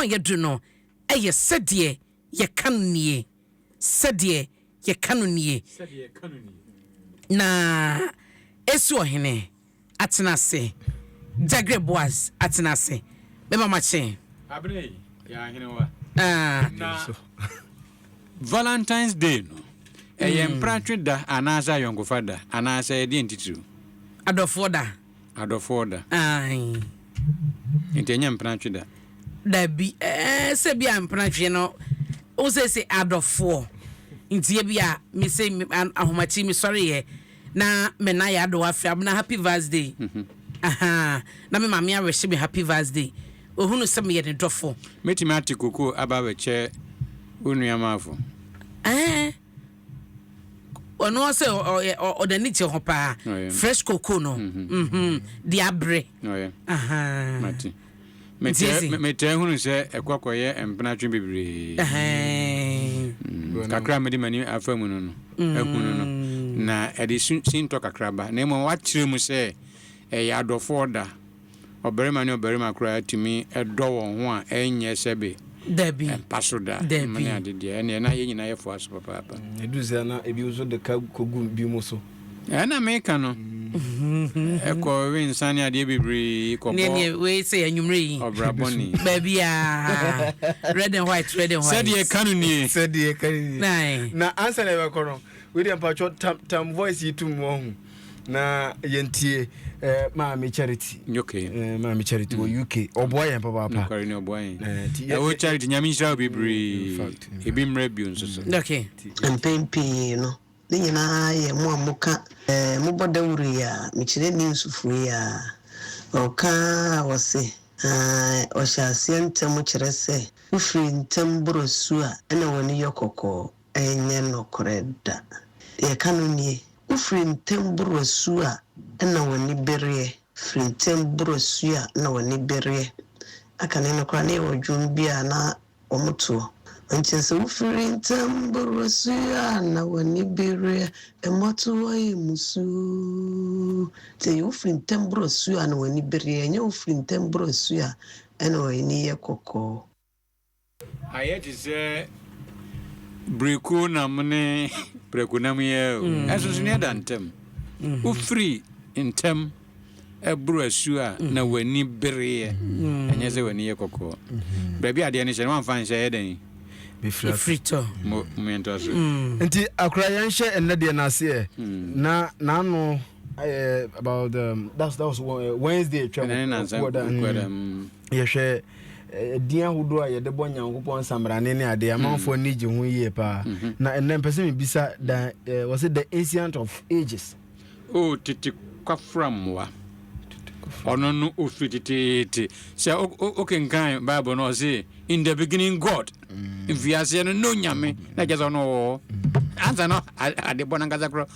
a yɛadu no yɛ sɛdeɛ yɛka no nie, sɛdeɛ yɛka no nie, na Esu ɔhene atena ase, Jagre Boaz atena ase, mɛma makye. Abena yi, yɛ ahenewa. Ah. Na Valentine's Day no, ɛyɛ mm. mpratwe da anaasɛ ayɔnkofa da anaasɛ ɛdeɛn titiriw? Adɔfoɔ da. Adɔfoɔ da. Aane. Nti ɛnyɛ mpenatwe da. Dabi ɛɛ sɛ bia mpenatwe no wo sɛ sɛ adɔfoɔ nti ebia me sɛ ahomakye me sɔreyɛ na me na yɛ adɔ afiri abena happy vaz day ahaa na me maame awɛhyɛ me happy vaz day ohunu sɛ meyɛ ne dɔfo. Mɛtumi ate koko aba bɛkyɛ wo nua maafo. Ɛɛ. ɔno ɔsɛ ɔyɛ ɔde ani te ho paa fresh cocoa no mhm. Mhm. de abere metɛɛ hunu sɛ ɛkɔkɔyɛ mpenatwe bebree mm, kakra mede m'ani afa mu no no mm. ahunu no na ɛde sintɔ kakraba na mmom wakyerɛ mu sɛ ɛyɛ adɔfoɔ da Ɔbarima ne ɔbarima koraa tumi dɔ wɔn ho a ɛnyɛ sɛbe? Dabi. Ɛmpa so da. Dabi. Mma ne ade deɛ. Ɛneɛ na yɛn nyinaa yɛfoa so papaapa. Mm, ɛduru sɛ na ebi nso de ka kɔgu bi mu so. Ɛna meka no. Ɛkɔ we nsa ne adeɛ bebree kɔbɔ. Neɛ neɛ wei sɛ anwummerɛ yi. Ɔbra bɔne. Baabi a. Red and white, red and white. Sɛdeɛ ka no nie. Sɛdeɛ ka no nie. Na ansa na ɛbɛkɔ no, wei deɛ mpatwɔ tam tam voice yi tum wɔn ho. na yɛntie eh, maame charity okay. eh, maame charity wɔ mm. uk ɔboa yɛn papaapa ɛwɔ eh, charity nyame nhyira wo bebree mm, ebi mmerɛ bio nso so mm. mpɛn pii no ne nyinaa yɛ mo a moka eh, mobɔ dawuro yi a mekyerɛ ne nsufuro yi a ɔka a wɔse ah, ɔhyɛ aseɛ ntɛm kyerɛ sɛ wofiri ntɛm borɔ su a ɛna w'ani yɛ kɔkɔɔ Ɛnyɛ nokorɛ da. Deɛ ɛka no nie, Wofiri ntɛm boro asuo a na w'ani bereɛ, firi ntɛm boro asuo a na w'ani bereɛ. Akane no koraa, na ɛwɔ dwom bi a na wɔtoɔ. Ɔnkyɛ sɛ wofiri ntɛm boro asuo a na w'ani bereɛ, mmɔtoɔ yɛ mmusuo. Nti ɛyɛ wofiri ntɛm boro asuo a na w'ani bereɛ, ɛnyɛ wofiri ntɛm boro asuo a na w'ani yɛ kɔkɔɔ. Ayɛ te sɛ birekuo nam ne prɛko nam yi ara o, ɛnsonsonoeɛ da ntam. Wofiri ntɛm boro asuo a na w'ani bereɛ, ɛnyɛ sɛ w'ani yɛ kɔkɔɔ. Baabi a adeɛ no hyɛ no wamfa nhyɛ ɛyɛ dɛn? Mefiri tɔ. Mo yɛntoa so. Nti akora yɛnhyɛ nnɛ deɛ no aseɛ na n'ano. Uh, about um, that's, that was uh, Wednesday atwa mu yɛhwɛ ɛdin ahodoɔ a yɛde bɔ nyankopɔn nsamrane ne adeɛ amanfoɔ ani gye ho yie paa na ɛnɛ mpɛ sɛ mebisa da wɔ sɛ the ancient of ages o tete kwafra mmoa ɔno no ɔfiri teteete sɛ wokenkan bible no ɔse in the beginning god mfiaseɛ no no nyame na kyɛ sɛ ɔno ɔwɔ ansa no adebɔ no ankasa korɔ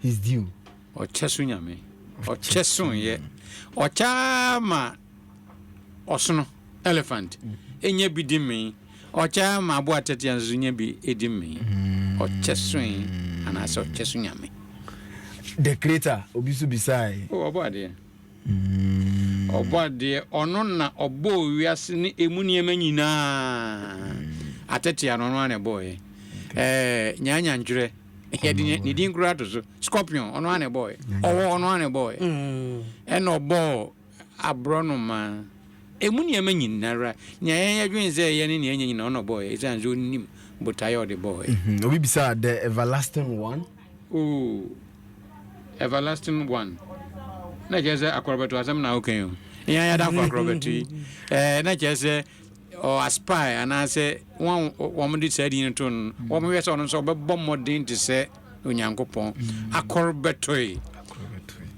his due. Ɔkyɛ so Nyame, ɔkyɛ soyɛ, ɔkyɛ ara ma ɔsono, elephant, nya bi di mee, ɔkyɛ ara ma aboa tɛtea nso nya bi di mee. Ɔkyɛ soe anaasɛ ɔkyɛ so Nyame. The creator, obi so bisae. O, ɔbɔ adeɛ. Ɔbɔ adeɛ, ɔno na ɔbɔɔ wiase ne emu nneɛma nyinaa. Atɛtea no ɔno ara na ɛbɔɔɛ. Ɛɛ, nyaanyantwerɛ. yɛde ne din kura to so scorpion ɔno ara na ɛbɔɔ yɛ ɔwɔ ɔno ara na ɛbɔɔ yɛ mm. ɛna ɔbɔɔ aborɔnoma ɛmu nneɛma nyinara nea yɛn yɛdwene sɛ ɛyɛ ne nea ɛnyɛ nyina ɔna ɔbɔɔ yɛ ɛsiane sɛ ɔnim botaeɛ ɔde bɔɔ yɛ mhm. obi bisaa the everlasting one oh everlasting one na kyerɛ sɛ akorɔbɛto asɛm na wokan o ɛyɛ yɛda kɔ akorɔbɛto yi na kyerɛ sɛ ɔaspire anaasɛ hɔn a wɔde saa din no too no no, wɔbɛhwɛ sɛ ɔno nso ɔbɛbɔ mbɔden te sɛ Onyankopɔn. Akor bɛtoe.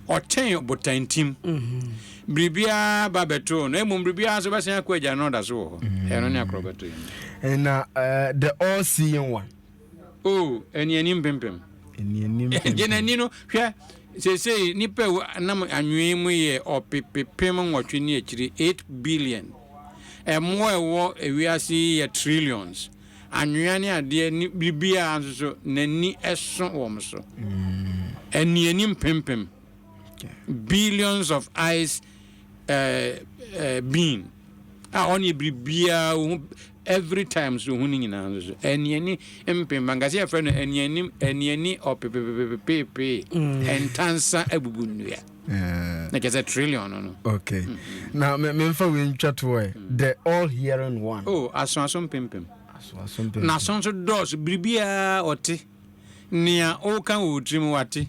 Ɔkyɛn ɔbotantim. Biribiara ba bɛtoo no, mbom biribiara nso bɛsan akɔ egya no na ɔda so wɔ hɔ. Ɛno ne akor bɛtoe no. Na the all-seeing one. o anianim mpempem anianim mpempem gye n'ani no hwɛ seesei nipa ewu nam anwee mu yɛ ɔpepepem nwɔtwe ne akyiri eight billion ɛmmoa ɛwɔ ewiase yi yɛ trillions anwea ne adeɛ ne biribiara nso so n'ani ɛso wɔn so anianim mm. mpempem billions of eyes uh, uh, being a ɔne biribiara Every time so ho no nyinaa nso so aniani mpempa nka sɛ yɛfrɛ no aniani aniani ɔpepepepepeepee ntansa abubu nnua na kyɛ sɛ trillion no no okay mm-hmm. na memfa wei ntwa toɔ ɛ mm. the all hearing one oh aso aso mpempem na so nso dɔɔso biribiaa ɔte nea woka wɔ tirim wate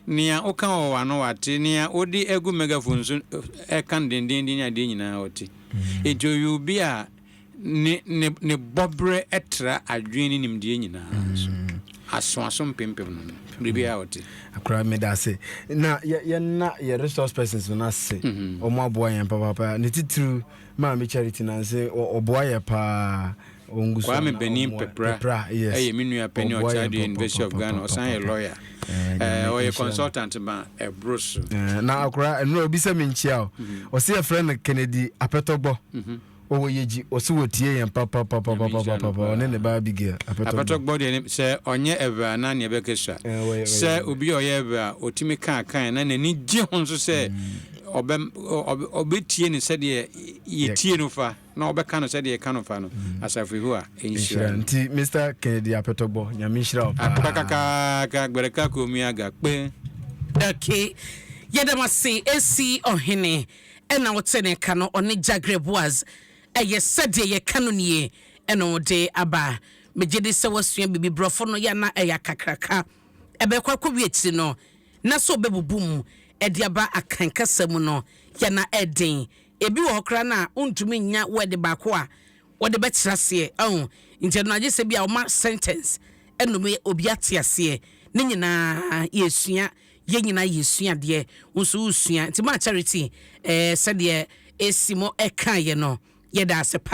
nea woka wɔ w'ano wate nea wode agu megaphone so ɛka dendenden adeɛ nyinaa ɔte mm. nti ɔyɛ obi a Ne ne ne bɔberɛ tra adwene ne nimdeɛ nyinaa so. Aso aso mpempem no no bere biara a ɔte. Akora mi da ase na yɛ yɛ na yɛ resource persons no ase. Wɔn aboa yɛn papaapa ne titiriw maame charity na nse ɔboa yɛ paa ɔngusu ana ɔmoa pepra yes ɛyɛ me nua pɛni ɔkyɛdeɛ university of ghana ɔsan yɛ lawyer. ɔyɛ consultant ma ɛboro so mm, na akora ɛnora obi sɛ menkyia o mm-hmm. ɔsɛ yɛfrɛ no kennedy apɛtɔgbɔ mm-hmm. ɔwɔ yɛgyi ɔsɛ wɔtie yɛn papapapapapapa ɔne ne ba abigail apɛtɔgbɔ deɛ sɛ ɔnyɛ ɛvɛ a na neɛ bɛkɛ sua sɛ obi a ɔyɛ ɛvɛ a ɔtumi kaa kan na n'ani gye ho nso sɛ mm. ɔbɛtie ne sɛdeɛ yɛtie no fa na wɔbɛka no sɛdeɛ ɛka no fa no mm. asafo yehowa nhyira nti mr kennedy apɛtɔbɔ nyame nhyira wo paa kakaka gbɛrɛka komia ga kpɛ okay yɛdɛm ase ɛsi ɔhene ɛna wote ne ka no ɔne jagre boas ɛyɛ sɛdeɛ yɛka no nie ɛna ɔde aba megye de sɛ wasua biribi borɔfo no yɛna ɛyɛ kakraka ɛbɛkɔ akɔwi akyiri no na sɛ ɔbɛbubu mu ɛde aba akan kasa mu no yɛna ɛden Ebi wɔ hɔ koraa no a wontumi nnya word baako a wɔde bɛkyerɛ aseɛ. Ɔho? Nti ɛno no agye sɛ bi a wɔma sentence nom yɛ obi ate aseɛ. Ne nyinaa yɛresua, yɛn nyinaa yɛresua adeɛ, wo nso woresua. Nti maa Charity, eh, sɛdeɛ Esimo ɛkaeɛ no, yɛda ase pa.